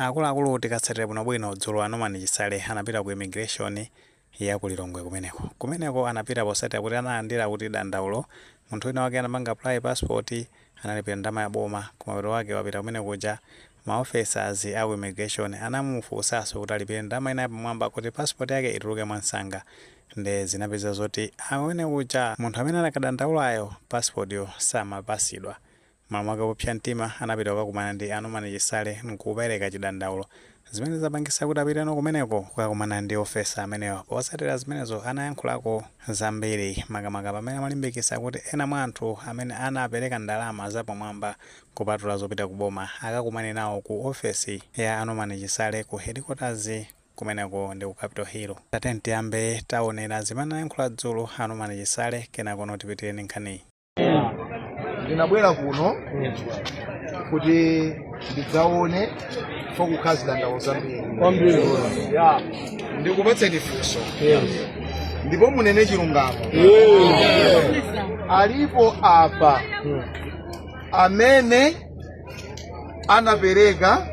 Akuluakulu tikatsatira bwinobwino dzulo a Norman Chisale anapita ku immigration ya ku Lilongwe kumeneko. Kumeneko anapita posatira kuti analandira kuti dandaulo munthu wina wake anapanga apply passport analipira ndalama ya boma koma mapeto ake wapita kumene kuja ma officers a ku immigration anamufunsanso kuti alipire ndalama ina yapamwamba kuti passport yake ituluke mwansanga nde zinapeza zoti amene kuja munthu amene anakadandaulayo passport yo samapasidwa Malo mwake popsa mtima anapita kukakumana ndi a Norman Chisale n'kupeleka chidandaulo, zimene zapangisa kuti apiteno kumeneko kukakumana ndi ofesa amenewa. Posatila zimenezo anayankhulako zambiri makamaka pamene amalimbikisa kuti ena mwa anthu amene anapeleka ndalama zapamwamba kupatula zopita ku boma akakumane nawo ku ofesi ya a Norman Chisale ku headquarters kumeneko ndi ku Capital Hill. Tatiyeni tiyambe taonera zimene anayankhula dzulo a Norman Chisale kenakono tipitirenso ndi nkhaniyi. ndinabwera kuno kuti ndidzaone fo kukukhala zidandaulo zambiri ndikupatseni funso ndipo munene chilungamo alipo apa amene anapereka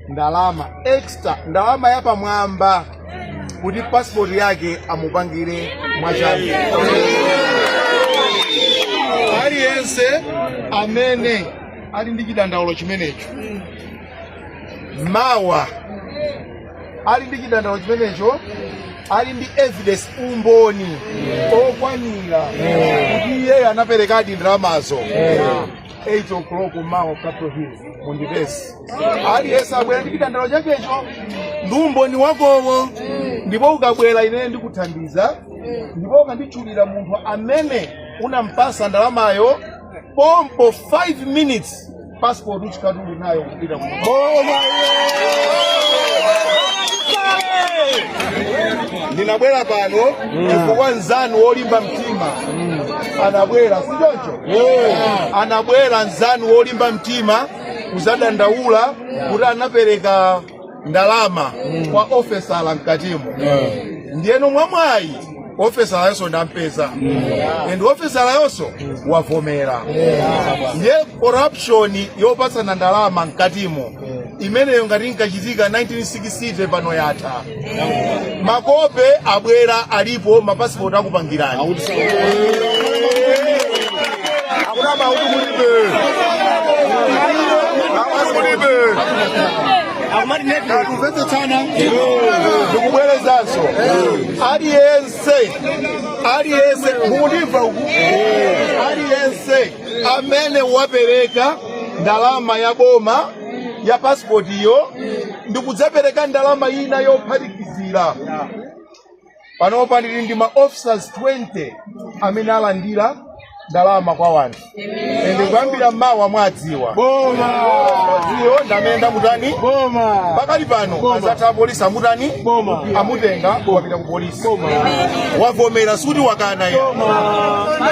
ndalama extra ndalama yapamwamba kuti passport yake amupangire mwachangu aliyense amene ali ndi chidandaulo chimenecho mawa ali ndi chidandaulo chimenecho ali ndi evidence umboni okwanira kuti iyeyo anaperekadi ndalamazo 8 o'clock mawa Capitol Hill mundipeze. Aliyense abwere ndi chidandaulo chakecho ndi umboni wakowo ndipo ukabwera ine ndikuthandiza ndipo ukanditchulira munthu amene unampasa ndalamayo pompo 5 minutes passport uchikatu Ndinabwera pano chifukwa nzanu wolimba mtima anabwera si choncho anabwera nzanu wolimba mtima kuzadandaula kuti anapereka ndalama kwa ofesala mkatimu ndiyeno mwamwayi ofesalayonso ndampeza and ofesalayonso wavomera ndiye corruption yopatsana ndalama mkatimu imeneyo ngati inkachitika 1960 pano yatha makope abwera alipo mapasipoti akupangirani akuna mauti kulibe mauti kulibe tikumvetsetsana ndikubwerezanso aliyense aliyense mukundimva uku aliyense amene wapereka ndalama ya boma ya pasipotiyo ndi kudzapereka ndalama ina yophatikizira panopa ndili ndi ma officers 20 amene alandira ndalama kwa wanthu ende kuyambira mawa mwadziwa iyo nde amene ndamutani pakali pano adzatha apolisi amutani amutenga wapita ku polisi wavomera suti wakana ayi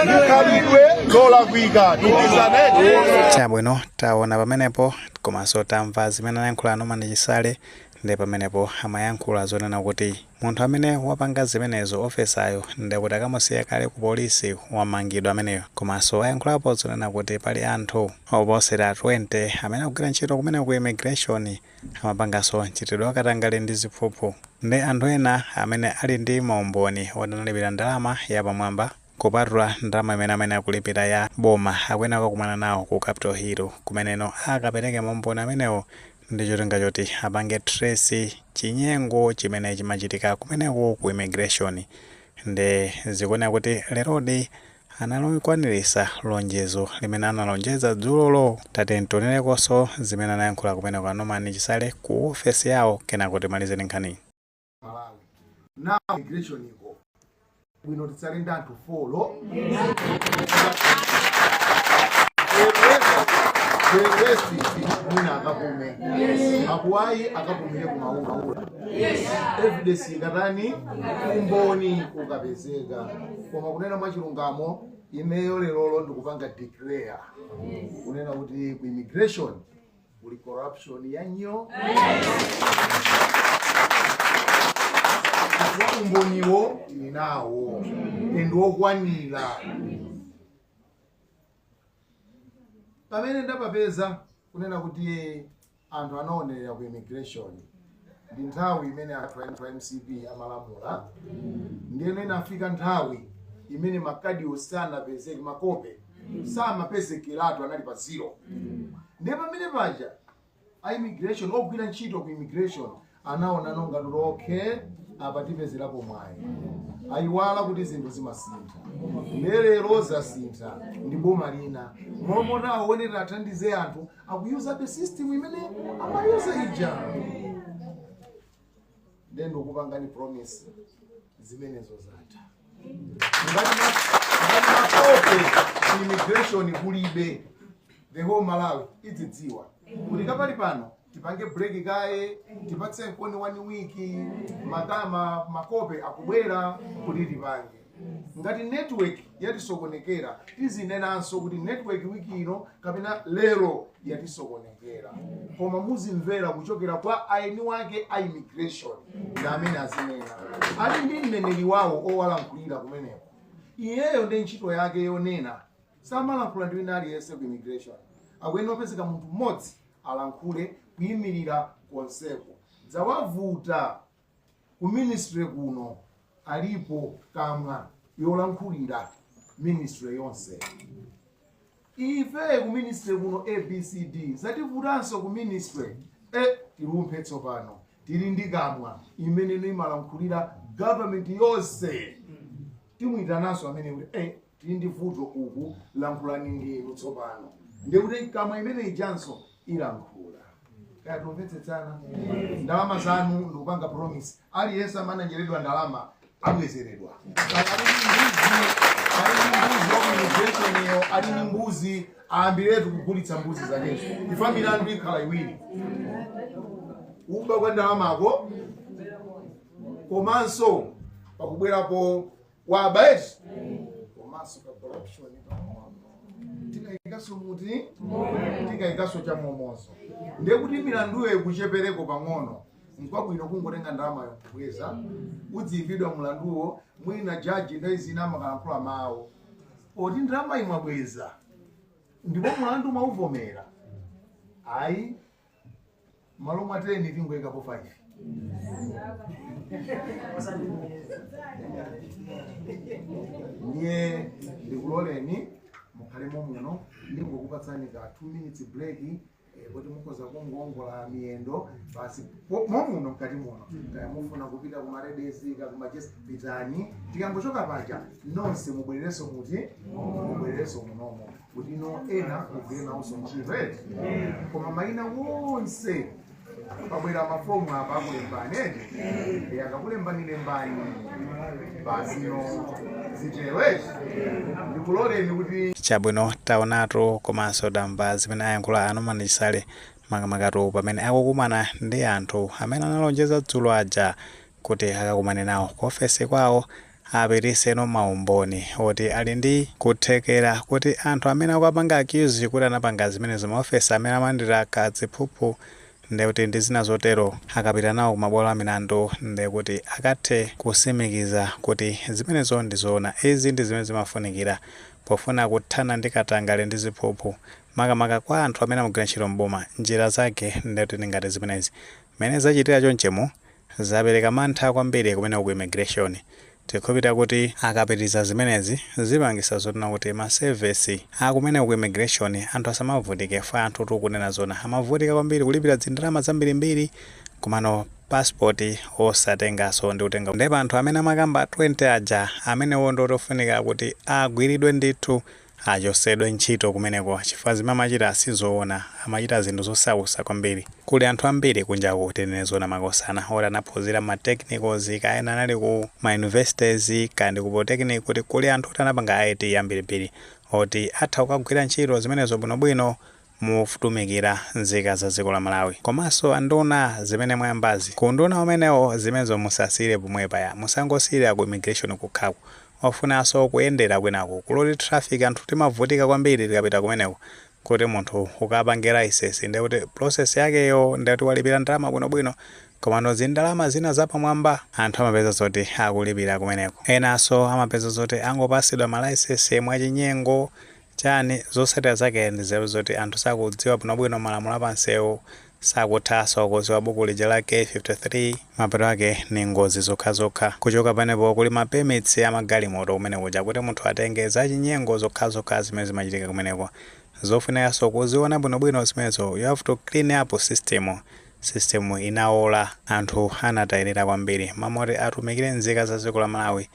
ndi khalidwe lolakwika tikizaneti chabwino Taona pamenepo komanso tamva zimene anayankhula Norman Chisale nde pamenepo amayankhula zonena kuti munthu amene wapanga zimenezo officer-yo nde kuti akamusiya kale ku police wamangidwa ameneyo komanso wayankhulapo zonena kuti pali anthu opitirira 20 amene akugwira ntchito kumeneko ku immigration amapanganso mchitidwe wa katangale ndi ziphuphu nde anthu ena amene ali ndi maumboni oti analipira ndalama yapamwamba Kupatula ndalama imene amayenera kulipira ya boma, akuyenera kukakumana nawo ku Capital Hill kumeneko akapereke maumboni amenewo ndi cholinga choti apange trace chinyengo chimene chimachitika kumeneko ku immigration. Nde zikuoneka kuti lerodi analikwanilitsa lonjezo limene analonjeza dzulolo. Tatiyeni tionerekonso zimene anayankhula kumeneko a Norman Chisale ku ofesi yawo kenako timalize ndi nkhaniyi. malawi immigration ikhale bwino titsale ndi anthu folo Bengesi mwina akapume makwawo akapumire ku Maula evidence ikatani umboni ukapezeka koma kunena mwachilungamo ineyo lerolo ndikupanga declare kunena kuti ku immigration Kuli corruption yanyoo. Umboniwo tili nawo and wokwanira. Pamene ndapapeza kunena kuti anthu anawonjezera ku immigration ndi nthawi imene anthu anthu a mcp amalamula ndiyeno inafika nthawi imene makadiwo samapezeka makope samapezekeratu anali pa zero ndiye pamene paja a immigration ogwira ntchito ku immigration anaona ngati kuti okay apa tipezerapo mwayi ayiwala kuti zinthu zimasintha lero zasintha ndi boma lina m'malo moti athandize anthu akuyuzabe system imene amayuza ija nde ndikupangani promise zimenezo zatha ngati makope ku immigration kulibe the whole malawi idzidziwa kuti pakali pano tipange break kaye tipatse mkonji one week matama makope akubwera kuti tipange ngati network yatisokonekera tizinenanso kuti network wiki ino kapena lero yatisokonekera koma muzimvera kuchokera kwa aeni wake a immigration ndi amene azinena ali ndi mneneri wawo owalankhulira kumeneko iyeyo ndi ntchito yake yonena samalankhula ndi wina aliyense ku immigration akuyenera kupezeka munthu mmodzi alankhule kuyimirira konseko zawavuta Ku ministry kuno alipo kamwa yolankhulira ministry yonse. Ife ku ministry kuno ABCD zativutanso ku ministry eh, tilumphe tsopano tili ndi kamwa imene imalankhulira government yonse timuyitananso amene kuti eh, tili ndi vuto uku lankhulani ndinu tsopano ndiye kuti kamwa imene ijanso ilankhula kaya tikumvetsetsana ndalama zanu ndikupanga promise aliyense amananjeredwa ndalama abwezeredwa mbuziyo ali ndi mbuzi ayambiretu kugulitsa mbuzi zakezo if milandu ikhala iwiri kuba kwa ndalamako komanso pakubwerapo waba eti komanso ka corruption pang'ono tikayikaso eti tikayikaso cha momozo ndiye kuti milanduyo ikuchepereko pang'ono nkwabwino kungotenga ndalamayo kubweza udziimbidwa mlanduwo mwina jaji nthawi zina amakalankhula mawu oti ndalama mwabweza ndipo mlandu mwauvomera ayi malo mwa 10 tingoyikapo 5 ndiye ndikuloleni mukhale momuno ndingokupatsani ka 2 minutes break eh, kuti mukhoza kungoongola miyendo basi po- momuno mkati muno kaya mufuna kupita ku ma ladies kaya ku ma gents pitani tikangochoka paja nonse mubwererenso eti mubwererenso munomo kutino ena tigwire nawonso ntchito eti koma mayina onse pabwera mafomu apa akulembani eti e akakulembani lembani basino zitero eti ndikuloleni kuti chabwino taonatu komanso tamva zimene ayankhula a Norman Chisale makamaka pamene akukumana ndi anthu amene analonjeza dzulo aja kuti akakumane nawo ku ofesi kwawo aperekeno ma umboni oti ali ndi kuthekera kuti anthu amene akuwapanga accuse kuti anapanga zimenezo ma officer amene amalandira ka ziphuphu ndekuti ndi zina zotero akapita nawo ku mabwalo a milandu ndekuti akathe kusimikiza kuti zimenezo ndi zoona. Izi ndi zimene zimafunikira pofuna kuthana ndi katangale ndi ziphuphu makamaka kwa anthu amene amagwira ntchito m'boma. Njira zake ndekuti ndi ngati zimenezi. Mmene zachitira chonchimu. Zapereka mantha kwambiri kumeneko ku immigration. Tikhulupirira kuti akapitiriza zimenezi zipangitsa zoona kuti ma sevesi akumeneko ku immigration anthu asamavutike chifukwa anthutu kunena zoona amavutika kwambiri kulipira dzindalama dzambirimbiri komano passport osatengaso ndi kutenga nde pa anthu amene amakamba 20 aja amenewo ndi oti ofunika kuti agwiridwe ndithu Achosedwe ntchito kumeneko chifukwa zimene amachita sizoona amachita zinthu zosausa kwambiri kuli anthu ambiri kunjaku tinene zoona makosana oti anaphuzira ma technicals kaya ena anali ku ma universities kaya ndi ku polytechnic kuti kuli anthu oti anapanga IT ambirimbiri oti atha kukagwira ntchito zimenezo bwinobwino kutumikira nzika za dziko la Malawi komanso anduna zimene mwayambazi ku unduna umenewo zimenezo musasiyire pomwepa ayi musangosiyira ku immigration kokhako ofunaso kuyendera kwinaku ku road traffic anthu timavutika kwambiri tikapita kumeneko kuti munthu ukapange license ndekuti process yakeyo ndekuti walipira ndalama bwinobwino komano zindalama zina zapamwamba anthu amapeza zoti akulipira kumeneko enaso amapeza zoti angopasidwa ma license mwachinyengo chani? Zotsatira zake ndi izi apeza zoti anthu sakudziwa bwinobwino malamulo a pansewu, sakuthaso kuziwa buku lija la k53, mapeto ake ni ngozi zokhazokha, kuchoka penepo kuli ma permits a magalimoto kumene kuja kuti munthu atenge, zachinyengo zokhazokha zimene zimachitika kumeneko, zofunikaso kuziona bwinobwino zimenezo, you have to clean up system, system inaola, anthu anatayilila kwambiri, m'malo moti atumikile nzika za dziko la Malawi,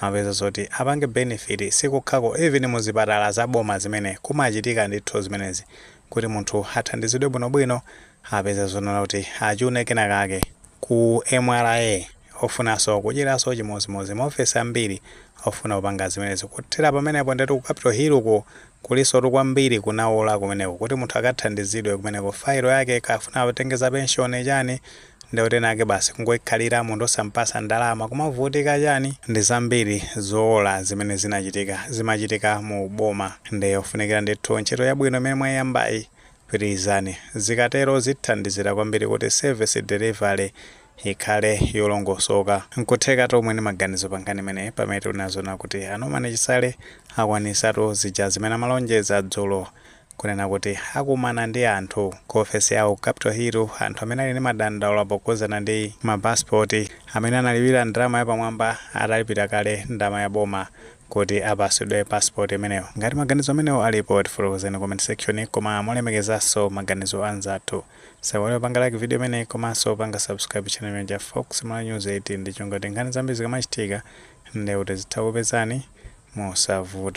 Amapeza zoti apange benefit sikukhako even muzipatala za boma zimene kumachitika ndithu zimenezi kuti munthu athandizidwe bwino bwino apeza zonena kuti achune kena kake ku mra ofunaso kuchitaso chimozimozi ma office ambiri ofuna kupanga zimenezi kuthera pamenepo ndetu ku capital hill ko kulisotu kwambiri kunawola kumeneko kuti munthu akathandizidwe kumeneko failo yake kaya afuna atenge za pension chani nde kuti enake basi kungoikhalira munthu osampasa ndalama kumavutika chani ndizambiri zoola zimene zinachitika zimachitika mu boma nde ofunikira ndithu ntchito yabwino imene mwaiyambayi pitilizani zikatero zithandizira kwambiri kuti service delivery ikhale yolongosoka nkutheka tu muli ni maganizo pa nkhani imeneyi pamene tinaziona kuti a Norman Chisale akwanisatu zija zimene amalonjeza dzulo Kunena kuti akumana ndi anthu ku ofesi yawo Capital Hill, anthu amene ali ndi madandaulo pokhuzana ndi ma passport amene analipira ndalama yapamwamba atalipira kale ndalama ya boma kuti apasidwe passport imeneyo. Ngati maganizo amenewo alipo tifotokozeni ku comment section koma molemekezanso maganizo anzathu. Tisaiwale kupanga like video imeneyi komanso kupanga subscribe channel imeneyi ya Fox Malawi News 18 ndi cholinga choti nkhani zambiri zikamachitika ndekuti zitha kukupezani mosavuta.